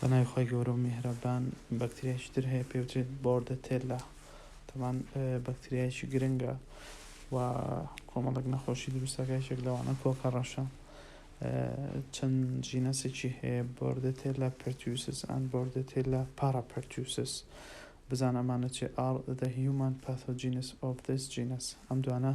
بەناوی خوای گەورە و میهرەبان بەکتریایەکی تر هەیە پێی وترێت بۆردەتێلا تەبان بەکتریایەکی گرنگە و کۆمەڵێک نەخۆشی دروستەکە یەکێک لەوانە کۆکە ڕەشە چەند جینەسێکی هەیە بۆردەتێلا پرتیوسس ئەن بۆردەتێلا پاراپرتیوسس بزان ئەمانە چێ ئاڕ دە هیومان پاثۆجینس ئۆف دەس جینەس ئەم دوانە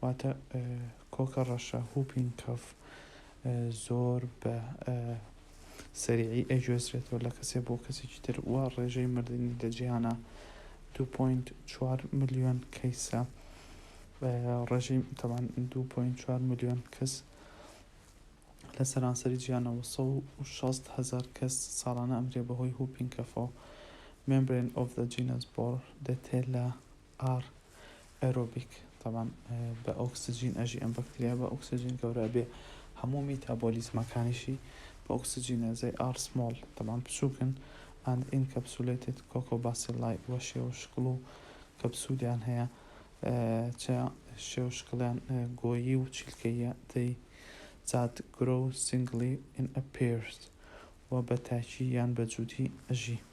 واتە کۆکە ڕەشە، Whooping Cough، زۆر بە سەریعی ئەگوێزرێتەوە لە کەسێ بۆ کەسێکی تر و ڕێژەی مردنی لە جیهانا دوو پۆینت چوار ملیۆن کەیسە ڕێژەی تەبان دوو پۆینت چوار ملیۆن کەس لە سەرانسەری جیهانەوە سە و شەست هەزار کەس ساڵانە ئەمرێ بەهۆی هوپینکەفەوە مێمبرێن ئۆف دە جینەس بۆڕ دەتێ لە ئاڕ ئێرۆبیک تەبعەن بە ئۆکسجین ئەژی ئەم بەکتریا بە ئۆکسجین گەورە بێ هەموو میتابۆلیزمەکانیشی بە ئۆکسجینە زەی ئاڕ سمۆڵ تەبعەن بچووکن ئەند ئینکەپسولەیتد کۆکۆ باسیلای وە شێوە شکڵ و کەپسولیان هەیە چە شێوە شکڵیان گۆیی و چیلکەییە دەی زات گرۆ سینگلی ئین ئە پێرس وە بە تاکی یان بە جووتی ئەژی.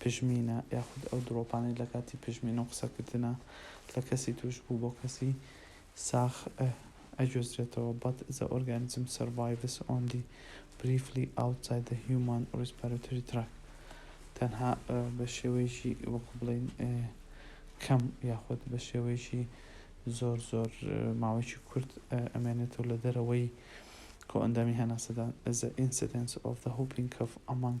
پژمینە یاخود ئەو دڕۆپانەی لە کاتی پژمین و قسەکردنا لە کەسی تووشبوو بۆ کەسی ساخ ئەگوێزرێتەوە But the organism survives only briefly outside the human respiratory tract تەنها بە شێوەیەکی وەکو بڵێین کەم یاخود بە شێوەیەکی زۆر زۆر ماوەیەکی کورت ئەمێنێتەوە لە دەرەوەی کۆئەندامی هەناسەدان The incidence of the whooping cough among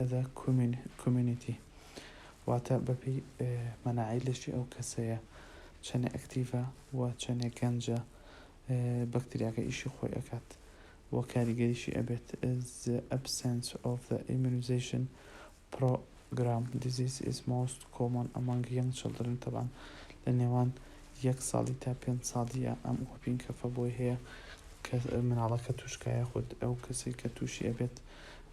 ئەدا کۆمیونیتی واتە بەپێی مەناعی لەشی ئەو کەسەیە چەنێ ئەکتیڤە و چەنێ گەنجە بەکتریاکە ئیشی خۆی ئەکات و کاریگەریشی ئەبێت the absence of the immunization program disease is most common among young children طبعا لە نێوان یەک ساڵی تا پێنج ساڵیە ئەم ئۆپین کەفە بۆی هەیە کە مناڵەکە توشکایە خود ئەو کەسی کە تووشی ئەبێت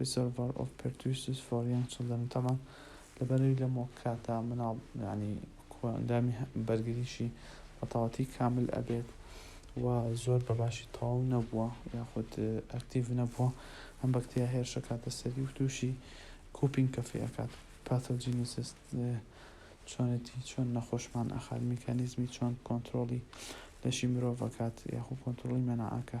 Reservoir of Pertussis for Young Children، تەبعەن لەبەر ئەوی لەم وەک کاتە مناڵ یانی کۆئەندامی بەرگریشی بەتەواتی کامل ئەبێت و زۆر بەباشی تەواو نەبووە یاخود ئەکتیڤ نەبووە ئەم بەکتریا هێرشەکاتە سەری و تووشی کوپینگ کەفی ئەکات Pathogenesis چۆنێتی چۆن نەخۆشمان ئەخات میکانیزمی چۆن کۆنترۆڵی لەشی مرۆڤ ئەکات یاخود کۆنترۆڵی مەناعەکە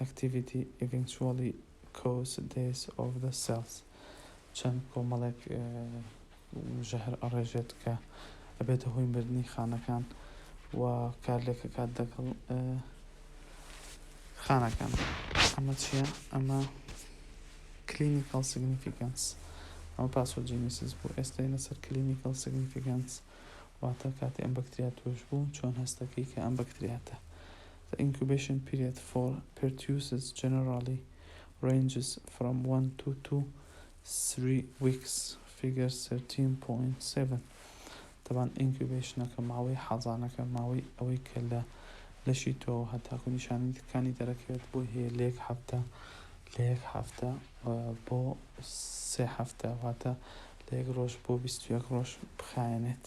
Activity eventually cause death of the cells چەند کۆمەڵێک ژەهر ئەڕێژێت کە ئەبێتە هۆی مردنی خانەکان و کارلێکەکات دەگەڵ خانەکان ئەمە چییە ئەمە کلینیکال سیگنیفیکانس ئەمە پاسۆجینیسیس بوو ئێستا لەسەر کلینیکال سیگنیفیکانس واتە کاتی ئەم بەکتریا توش بوو چۆن هەستەکەی کە ئەم بەکتریاتە The incubation period for pertussis generally ranges from one to two three weeks، Figure thirteen point seven. دەبان ئینکیوبەیشنەکە، ماوەی حەزانەکە، ماوەی ئەوەی کە لە لەشی تۆوە هەتاکو نیشانەکانی دەرەکەوێت بۆ هەیە لە یەک هەفتە لە یەک هەفتە بۆ سێ هەفتە، واتە لە یەک ڕۆژ بۆ بیست و یەک ڕۆژ بخایەنێت.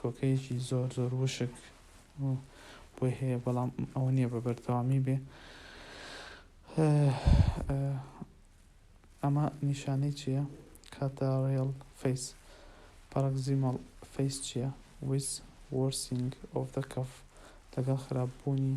کۆکەیەکی زۆر زۆر وشک و بۆی هەیە بەڵام ئەوە نییە بە بەردەوامی بێ ئەمە نیشانەی چییە کاتە ڕێڵ فەیس پەڕکزیمەڵ فەیس چییە ویس وۆرسینگ ئۆف دە کەف لەگەڵ خراپبوونی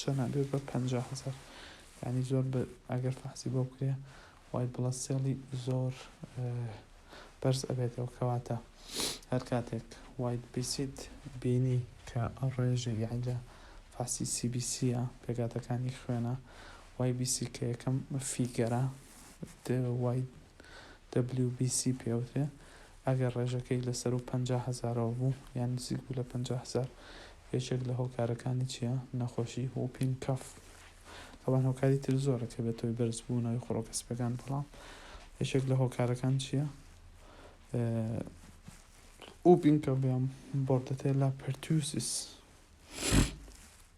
چەنە بێ بە پەنجا هەزار یانی زۆر بە ئەگەر فەحسی بۆ بکرێ وای بڵە سێڵی زۆر بەرز ئەبێتەوە کەواتە هەر کاتێک وایت بیسیت بینی کە ڕێژەی یانی لە فەحسی سی بی سیە پێگاتەکانی خوێنە وای بیسی کە یەکەم فیگەرە وای دەبلیو بی سی پێ ئەوترێ، ئەگەر ڕێژەکەی لە سەروو پەنجا هەزارەوە بوو یان نزیک بوو لە پەنجا هەزار، یەکێک لە هۆکارەکانی چییە؟ نەخۆشی ووپینگ کاف. تابان هۆکاری تر زۆرە کە بێتەوەی بەرز بوونەوەی خڕۆکە سپییەکان بەڵام یەکێک لە هۆکارەکان چییە؟ ووپینگ کاف یان بۆردەتێلا پێرتوسیس.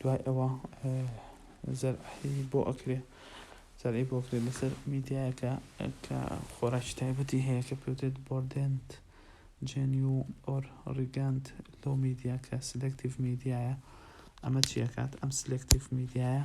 دوای ئەوە زەرعی بۆ ئەکرێ زەرعی بۆ کرێت لەسەر میدیایەکە کە خۆراکی تایبەتی هەیە کە پێوتێت بۆردێنت جێنیو ئۆر ڕیگەنت لەو میدیا کە سلکتیڤ میدیایە ئەمە چیەکات ئەم سلکتیڤ میدیایە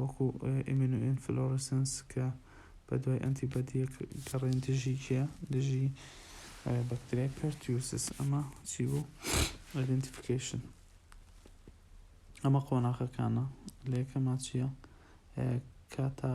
وەکو ئیمینۆئینفلۆرسنس کە بەدوای ئەنتی بەدیەک گەڕێن دژی کێ دژی بەکتریای پەرتیوسس ئەمە چی بوو ئایدنتیفیکیشن ئەمە قۆناخەکانە لە یەکەما چییە کاتا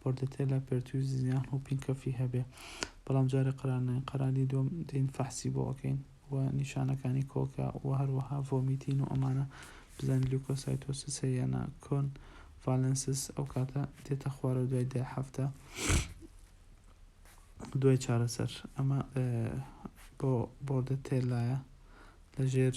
بۆردەتێلا پێرتویز یان و پینکەفی هەبێ بەڵام جارێ قەرار نەین قەرالی دووەم دێین فەحسی بۆ ئەکەین و نیشانەکانی کۆکە و هەروەها ڤۆمیتین و ئەمانە بزانین لیوکۆسایتۆسس هەیە یان نا کۆن ڤالێنسس ئەو کاتە دێتە خوارەوە دوای دە هەفتە دوای چارەسەر ئەمە بۆ بۆردە تێلایە لەژێر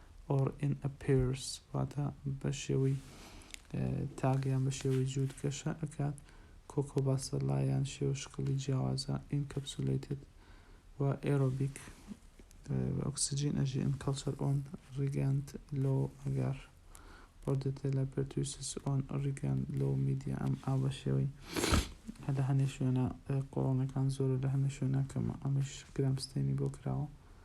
or in a pairs واتە بە شێوەی تاک یان بە شێوەی جووت گەشە ئەکات کۆکۆ باسە لا یان شێوە شکڵی جیاوازە encapsulated و aerobic ئۆکسجین ئەژی in culture on ریگەند لۆ ئەگەر بۆردەتێلە پرتویسس ئۆن ریگەند لۆ میدیا ئەم ئا بە شێوەی لە هەنێ شوێنە قۆڵۆنەکان زۆرە لە هەنێ شوێنە کەمە ئەمەش گرامستێنی بۆ کراوە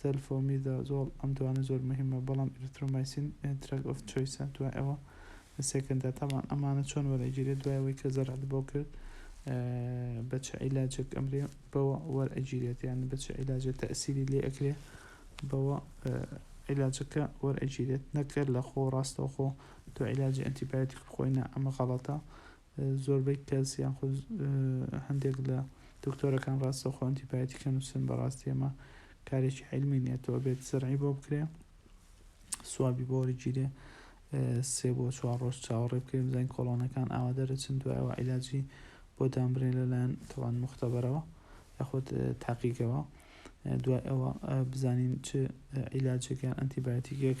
سەلفۆمیدازۆڵ، ئەم دوانە زۆر موهیمە بەڵام ئیرترۆمایسین دراگ ئۆف چۆیسە دوای ئەوە لە سێکەندا تەبان ئەمانە چۆن وەرئەگیرێ دوای ئەوەی کە زەرعت بۆ کرد بە چ عیلاجێک ئەمرێ بەوە وەرئەگیرێت یان بە چ عیلاجێ تەئسیری لێ ئەکرێ بەوە عیلاجەکە وەرئەگیرێت نەک هەر لە خۆو ڕاستەوخۆ تۆ عیلاجی ئەنتی بایۆتیک بخۆی نا ئەمە غەڵەتە زۆربەی کەس یان خود هەندێک لە دکتۆرەکان ڕاستەوخۆ ئەنتیبایۆتیکە نووسن بەڕاستی ئەمە کارێکی عیلمی نیە تۆ ئەبێت زەرعی بۆ بکرێ سوابی بۆ وەرگیرێ سێ بۆ چوار ڕۆژ چاوەڕێ بکرێ بزانین کۆڵۆنەکان ئاوا دەرەچن دوایەوە عیلاجی بۆ دامبرێن لەلایەن تەوان مختبەرەوە یاخود تاقیگەوە دوای ئەوە بزانین چ عیلاجێک یان ئەنتیبایۆتیکێک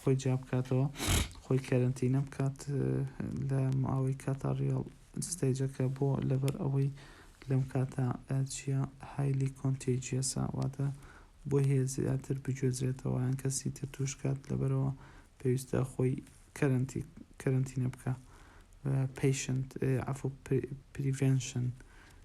خۆی جیا بکاتەوە خۆی کەرەنتینە بکات لە ماوەی کاتا ڕیاڵ ستەیجەکە بۆ لەبەر ئەوەی لەم کاتا چیە هایلی کۆنتێجیەسە واتە بۆ هەیە زیاتر بگوێزرێتەوە یان کەسی تر توش کات لەبەرەوە پێویستە خۆی کەرەنتی کەرەنتینە بکە پیشنت عفو پریڤێنشن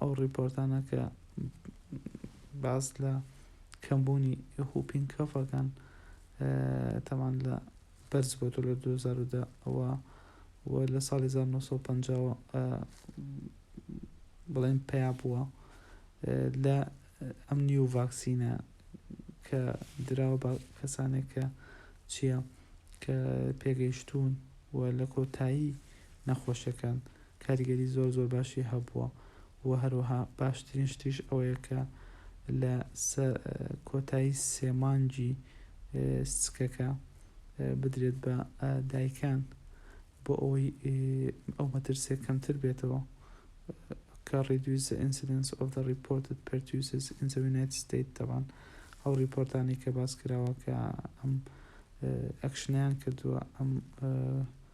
ئەو ڕیپۆرتانە کە باس لە کەمبوونی هوپینگ کەفەکان تەمان لە بەرز بۆتۆ لە 2010 ئەوە و لە ساڵی 1950 بڵێن پیا بووە لە ئەم نیو ڤاکسینە کە دراوە بە کەسانێک کە چییە کە پێگەیشتوون و لە کۆتایی نەخۆشەکان کاریگەری زۆر زۆر باشی هەبووە و هەروەها باشترین شتیش ئەوەیە کە لە سەر کۆتایی سێ مانگی سکەکە بدرێت بە دایکان بۆ ئەوەی ئەو مەترسیە کەمتر بێتەوە کە reduce the incidence of the reported pertussis in the United States تەبان ئەو ریپۆرتانی کە باس کراوە کە ئەم ئەکشنیان کردووە ئەم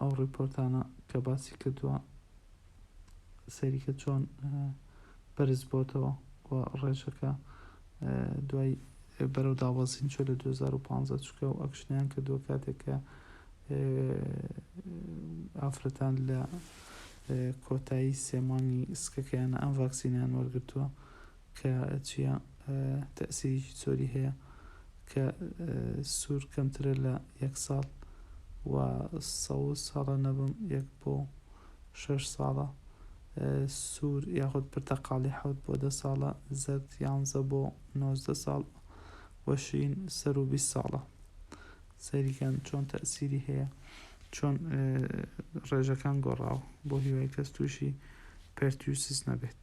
ئەو ڕیپۆرتانە کە باسی کردووە سەیریکە چۆن بەرز بۆتەوە و ڕێژەکە دوای بەرەو دابەزین چۆ لە 2015 چکە و ئەکشنیان کردووە کاتێک کە ئافرەتان لە کۆتایی سێمانی سکەکەیانە ئەم ڤاکسینیان وەرگرتووە کە چیا تەئسیرێکی چۆری هەیە کە سور کەمترە لە یەک ساڵ و سەوز هەڵە نەبم یەک بۆ شەش ساڵە سور یاخود پرتەقاڵی حەوت بۆ دە ساڵە زەرد یانزە بۆ نۆزدە ساڵ و شین سەرو بیست ساڵە سەیری کەن چۆن تەئسیری هەیە چۆن ڕێژەکان گۆڕاوە بۆ هیوای کەس توشی پێرتیوسیس نەبێت.